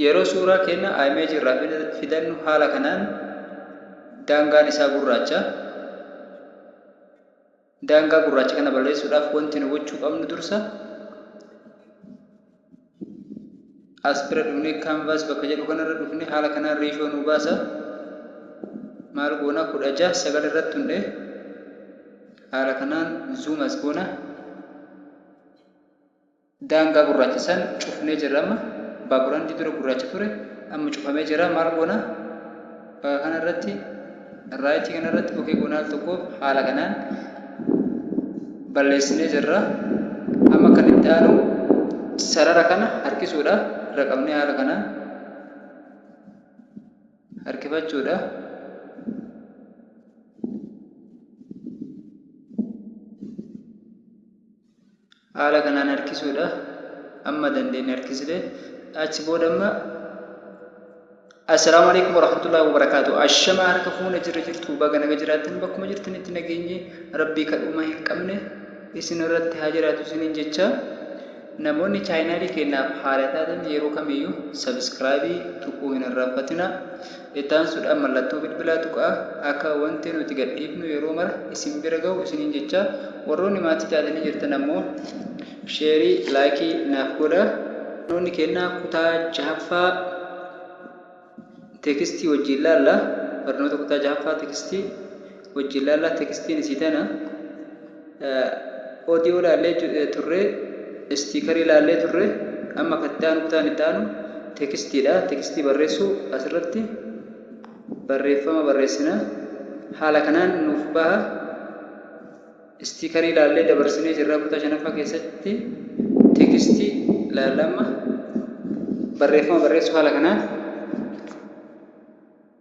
Yeroo suuraa keenya image irraa filannu haala kanaan daangaan isaa gurraacha. Daangaa gurraacha kana balleessuudhaaf wanti nu gochuu qabnu dursa as bira dhufnee canvas bakka jedhu kanarra dhufnee haala kanaan riishoo nu baasa. Maal goona kudha jaha sagal irratti hundhee haala kanaan zoom as goona. Daangaa gurraacha san cufnee jirra amma. Baaburandii dura gurraacha ture amma cufamee jira maal goona? Bakka kana irratti raayitii kana irratti ok goona al tokkoof haala kanaan balleessinee jirra. Amma kan itti aanu sarara kana harkisuudha. Irra qabnee haala kanaan harkifachuudha. Haala kanaan harkisuudha. Amma dandeenye harkisne. Achi booda amma Assalaamu alaikum warahmatullahi wabarakaatu. Ashama harka fuune jirra jirtu baga naga jiraattan bakkuma jirtanitti nageenyi rabbii kadhuuma hin qabne isin irratti haa jiraatu isiniin jecha namoonni chaayinaalii keenyaaf haara taatan yeroo kamiyyuu sabiskiraabii tuquu hin irraanfatina. Itti aansuudhaan mallattoo bilbilaa tuqaa, akka wanti nuti gadhiifnu yeroo mara isin bira gahu isiniin jechaa, warroonni maatii taatanii jirtan ammoo sheerii, like, naaf godhaa. Barnoonni keenna kutaa 6ffaa teekstii wajjiin laalla. Barnoota kutaa 6ffaa teekstii wajjin laallaa tekstiin isii tana audio laallee turre istiikarii laallee turre amma kan itti aanu kutaan itti aanu tekstiidha tekstii barreessuu asirratti barreeffama barreessina haala kanaan nuuf baha istiikarii laallee dabarsinee jirraa kutaa shanaffaa keessatti tekstii laallamma barreeffama barreessuu haala kanaan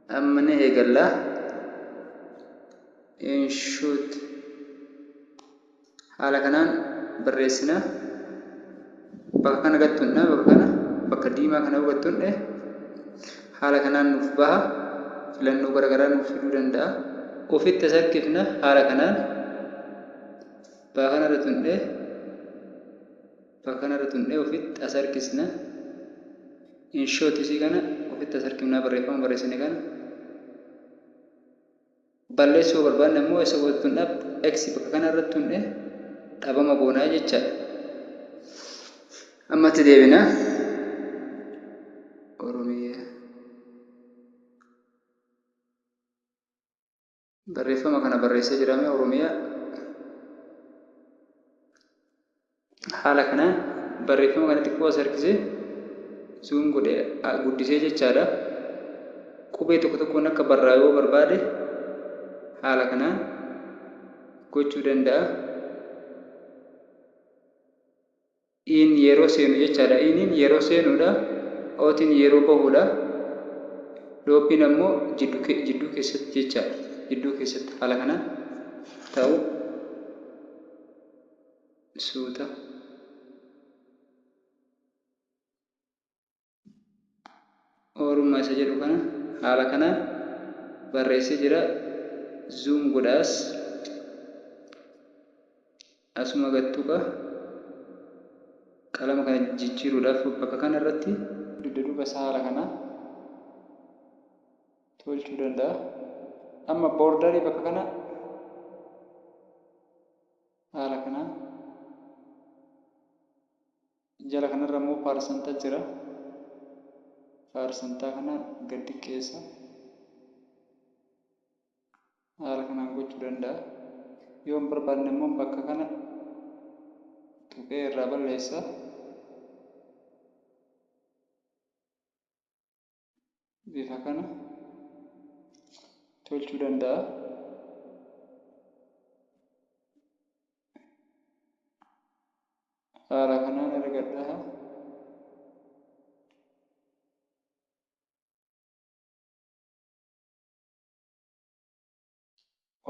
Amma ni eegalla. Inshoot haala kanaan barreessina. Bakka kana gattunna bakka kana bakka diimaa kana gattunne haala kanaan nuuf baha. Filannoo garaagaraa nuuf fiduu danda'a. Ofitti as harkifna haala kanaan bakka kanarra tunne. Fakanara tundhe ofit asarkisna in short isii kana ofit asarkifnaa barreeffama barreessine kana balleessuu yoo barbaanne ammoo essa booda tun dhab x bakka kana irratti tundhe dhabama goonaa jechaadha ammatti deebina oromiyaa Barreeffama kana barreessee jiraame Oromiyaa. Haala kanaan barreeffama kana xiqqoo as harkisee zuum godhee guddisee jechaadha. Qubee tokko tokkoon akka barraa yoo barbaade haala kanaan gochuu danda'a. iin yeroo seenu jechaadha. iiniin yeroo seenuudha. ootiin yeroo bahuudha. dhoophiin ammoo jidduu keessatti jechaadha. jidduu keessatti haala kanaan ta'u. suuta. Oorummaa isa jedhu kana haala kanaan barreessee jira. Zoom godha as. Asuma gad tuqa. Qalama kana jijjiiruudhaaf bakka kana irratti dugda duuba isaa haala kanaan tolchuu danda'a. Amma boordarii bakka kana haala kanaan Jala kanarra immoo paarsanta jira. Paarsantaa kana gad diqqeessa. Haala kanaan gochuu danda'a. Yoo hin barbaadne immoo bakka kana tuqee irraa balleessa. bifa kana tolchuu danda'a. Haala kanaan argadhaa.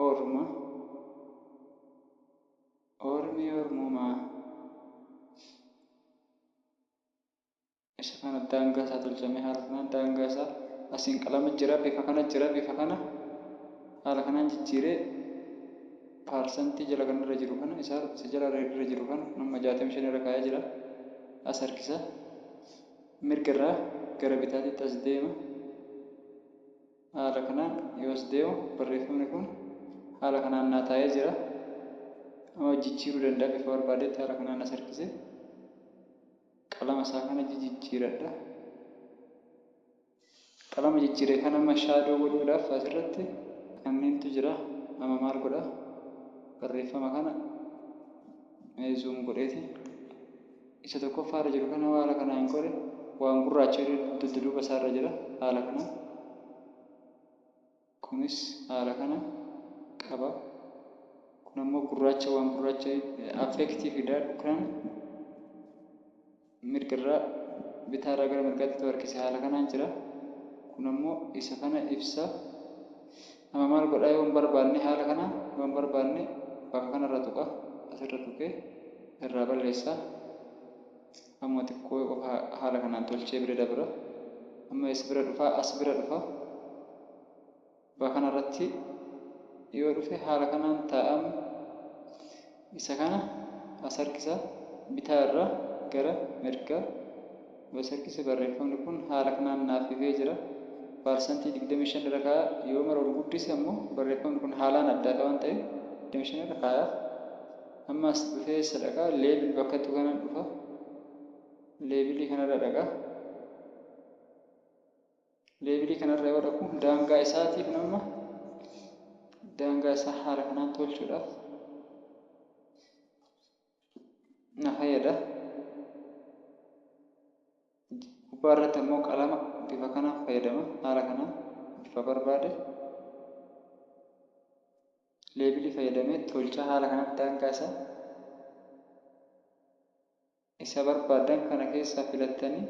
Ormo Ormi Ormumaa isa kana daangaa isaa tolchamee haala kanaan daangaa isaa asiin qalama jira bifa kana jira bifa kana haala kanaan jijjiiree paarsantii jala kan irra jiru kana isaa isa jala irra jiru kana amma jaatamii shan irra kaa'ee jira as harkisa mirga irraa gara bitaatitti as deema Haala kanaan yoos deemu barreeffamni kun haala kanaan naa taa'ee jira. Amma jijjiiruu danda'a bifa barbaadetti haala kanaan as harkise. Qalama isaa kana jijijjiiradha. Qalama jijjiire kana amma shaadoo godhuudhaaf asirratti kanniintu jira. Amma maal godha? Barreeffama kana mee zuum godheeti. isa tokkoffaa irra jiru kana haala kanaan hin qore, waan gurraacha irra dudduduuba isaa irra jira, haala kanaan. Kunis haala kana qaba. Kun ammoo gurraacha waan gurraacha affeektii fida, dhukkiraan mirga irraa bitaa irraa gara mirgaatti ta'u harkise haala kanaan jira. Kun ammoo isa kana ibsa. Amma maal godha yoon barbaadne haala kana yoon barbaadne bakka kanarra tuqa asirra tuqee irraa balleessa amma xiqqoo qofa haala kanaan tolchee bira dabra amma eessa bira dhufa as bira dhufa bakka kanarratti yoo dhufe haala kanaan taa'am Isa kana as harkisaa, bitaa irraa gara mirgaa yoo as harkise barreeffamni kun haala kanaan naaf ifee jira. Parsantii 25 irra kaa'a, yoo mara ol guddise ammoo barreeffamni kun haalaan addaa dha waan ta'eef 25 irra kaayaaf. Amma as dhufee eessa dhaqa? Label bakka jettu kanan dhufa. Label kana irra dhaqa. leevilii kanarra yoo dhaqu daangaa isaati kun amma daangaa isaa haala kanaan tolchuudhaaf na fayyada gubbaa irratti ammoo qalama bifa kanaan fayyadama haala kanaan bifa barbaade leevilii fayyadamee tolchaa haala kanaan daangaa isaa Isa barbaaddan kana keessaa filattanii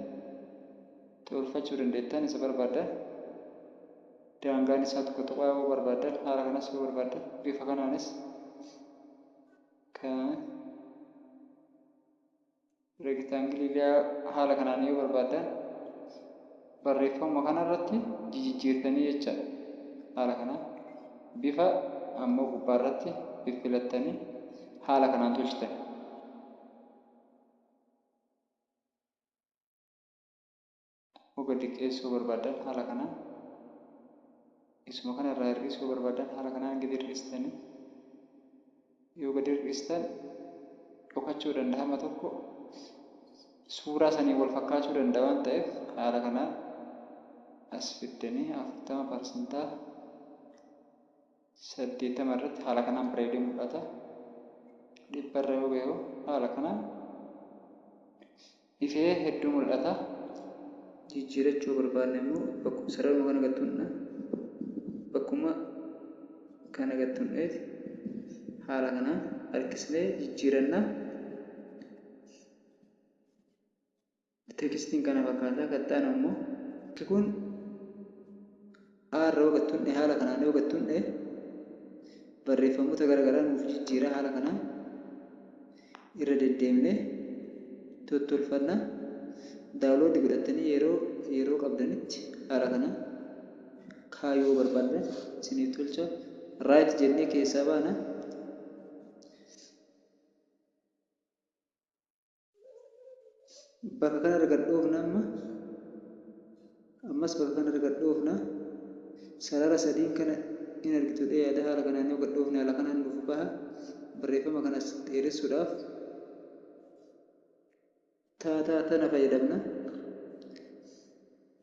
itti oolfachuu dandeettan. Isa barbaaddan daangaan isaa tokko tuqaa yoo barbaaddan haala kanas yoo barbaaddan bifa kanaanis kaa'ame. Reektaangilii liyaa haala kanaan yoo barbaaddan barreeffama kana irratti jijijjiirtanii jecha haala kanaan bifa ammoo gubbaa irratti fiffilattanii haala kanaan tolchitan. Akkuma gadi qeessuu barbaaddan haala kanaan isuma kana irraa hir'isuu yoo barbaaddan haala kanaan gadi hir'istani yoo gadi hir'istan dhokachuu danda'a amma tokko suuraa saniin wal fakkaachuu danda'a waan ta'eef haala kanaan as fiddanii afurtama parsantaa 80 irratti haala kanaan bareedee mul'ata. 100 irra yoo ga'e haala kanaan ifee hedduu mul'ata. Jijjiirachuu barbaadne immoo bakkuma sararuma kana gad tuqna. Bakkuma kana gad tuqneeti haala kanaan harkisnee jijjiiranna. Teekstiin kana fakkaata. Kan itti aanu immoo. Wanti kun aarra hogattuun dhe haala kanaan hogattuun dhe barreeffamoota gara garaa nuuf jijjiira. Haala kanaan irra deddeemnee tottolfanna. Daawuloodii godhattanii yeroo yeroo qabdanitti haala kanaan kaayuu yoo barbaaddan isiniif tolcha. Raayit jennee keessaa baana. bakka kanarra gad dhoofna amma ammas bakka kanarra gad dhoofna sarara sadiin kana in argitu dhee yaada haala kanaan yoo gad dhoofne haala kanaan nuuf baha barreeffama kanas dheeressuudhaaf taataa tana fayyadamna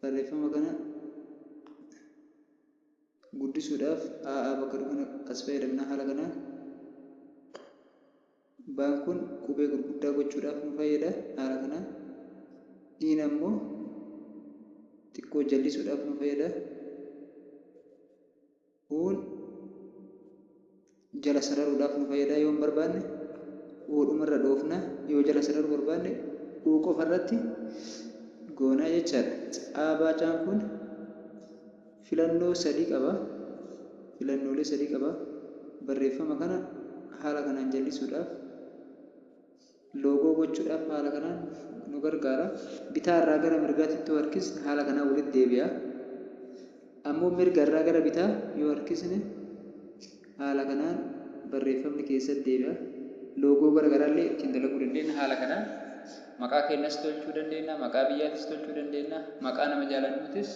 barreeffama kana guddisuudhaaf aa bakka kana as fayyadamna haala kanaan Baan kun qubee gurguddaa gochuudhaaf nu fayyada. Haala kanaan Iin ammoo xiqqoo jallisuudhaaf nu fayyada. Uun jala sararuudhaaf nu fayyada yoon barbaanne U dhumarra dhoofna. Yoo jala sararuu barbaanne U qofarratti goona jechaadha. Caa baacaan kun. filannoo sadii qaba. filannoolee sadii qaba. Barreeffama kana haala kanaan jallisuudhaaf loogoo gochuudhaaf haala kanaan nu gargaara. Bitaa irraa gara mirgaatti ittuu harkisne haala kanaan walitti deebi'a. Ammoo mirga irraa gara bitaa yoo harkisne haala kanaan barreeffamni keessatti deebi'a. Loogoo gara garaa illee ittiin dalaguu dandeenya haala kanaan. Maqaa keenyas tolchuu dandeenya, maqaa biyyaatis tolchuu dandeenya, maqaa nama jaalannuutis.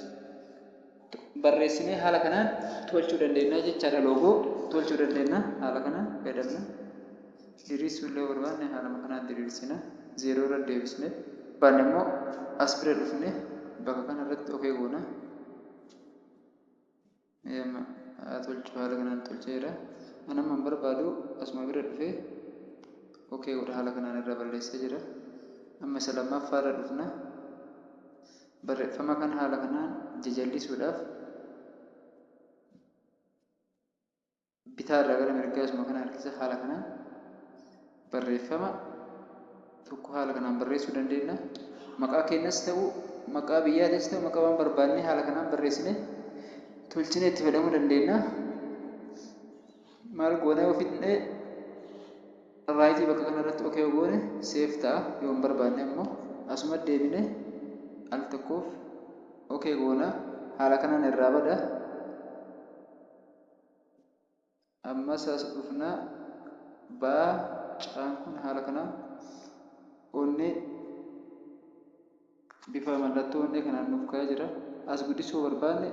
barreessinee haala kanaan tolchuu dandeenya jechaadha loogoo tolchuu dandeenya haala kanaan fayyadamna diriirsuu illee barbaanne haaluma kanaan diriirsina zeeroo irra deebisne baanne immoo as bira dhufne bakka kana irratti ok goona Eeyama, haa tolchu haala kanaan tolcheera an amma hin barbaadu asuma bira dhufe ok godha haala kanaan irra balleessee jira amma isa lammaffaa irra dhufna Barreeffama kana haala kanaan jajallisuudhaaf bitaa irraa gara mirgaa isuma kana harkisa haala kanaan barreeffama tokko haala kanaan barreessuu dandeenya. Maqaa keenyas ta'u maqaa biyyaatis ta'u maqaa waan barbaannee haala kanaan barreessine tolchinee itti fayyadamuu dandeenya. maal goonee yoo fidne raayitii bakka kana irratti ok yoo goone seef ta'a yoo hin barbaanne ammoo asuma deebine al tokkoof ok goona haala kanaan irraa bada ammas as dhufna baa caan kun haala kanaan onni Bifa mallattoo onnee kanaan nuuf ka'ee jira. As guddisuu yoo barbaanne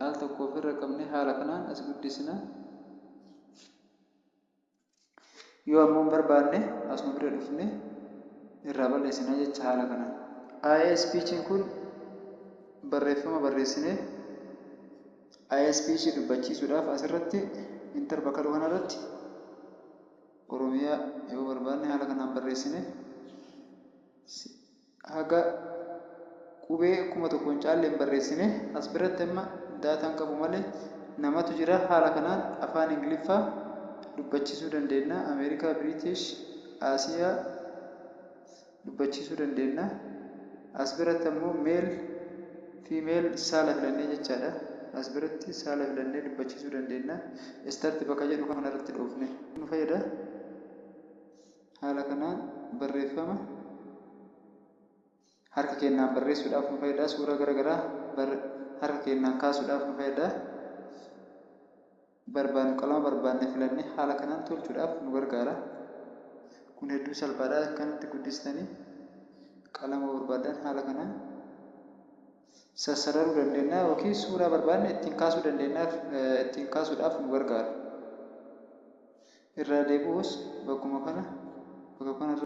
al tokko ofirra qabnee haala kanaan as guddisna. Yoo ammoo hin barbaanne asuma bira dhufnee irraa balleessina jecha haala kanaan. ISPC'n kun barreeffama barreessinee ISPC dubbachiisuudhaaf asirratti inter bakka jedhu kanarratti Oromiyaa yoo barbaanne haala kanaan barreessine haga qubee 1000 hin caalle hin barreessine. As biratti amma data hin qabu malee namatu jira. Haala kanaan afaan Ingiliffaa dubbachiisuu dandeenna. Ameerikaa, British, Aasiyaa dubbachiisuu dandeenna. As biratti ammoo male, female saala filannee jechaadha. As biratti saala filannee dubbachiisuu dandeenna. Start bakka jedhu kanarratti dhoofne nu fayyada. Haala kanaan barreeffama harka keennaan barreessuudhaaf nu fayyada. Suuraa gara garaa harka keennaan kaasuudhaaf nu fayyada. Barbaannu qalama barbaanne filannee haala kanaan tolchuudhaaf nu gargaara. Kun hedduu salphaadha. Akkanatti guddistanii qalama barbaaddan haala kanaan. sassararuu dandeennaa ykn suuraa barbaanne ittiin kaasuu dandeennaaf ittiin kaasuudhaaf nu gargaara. irraa deebi'uus bakkuma kana bakka kanarra.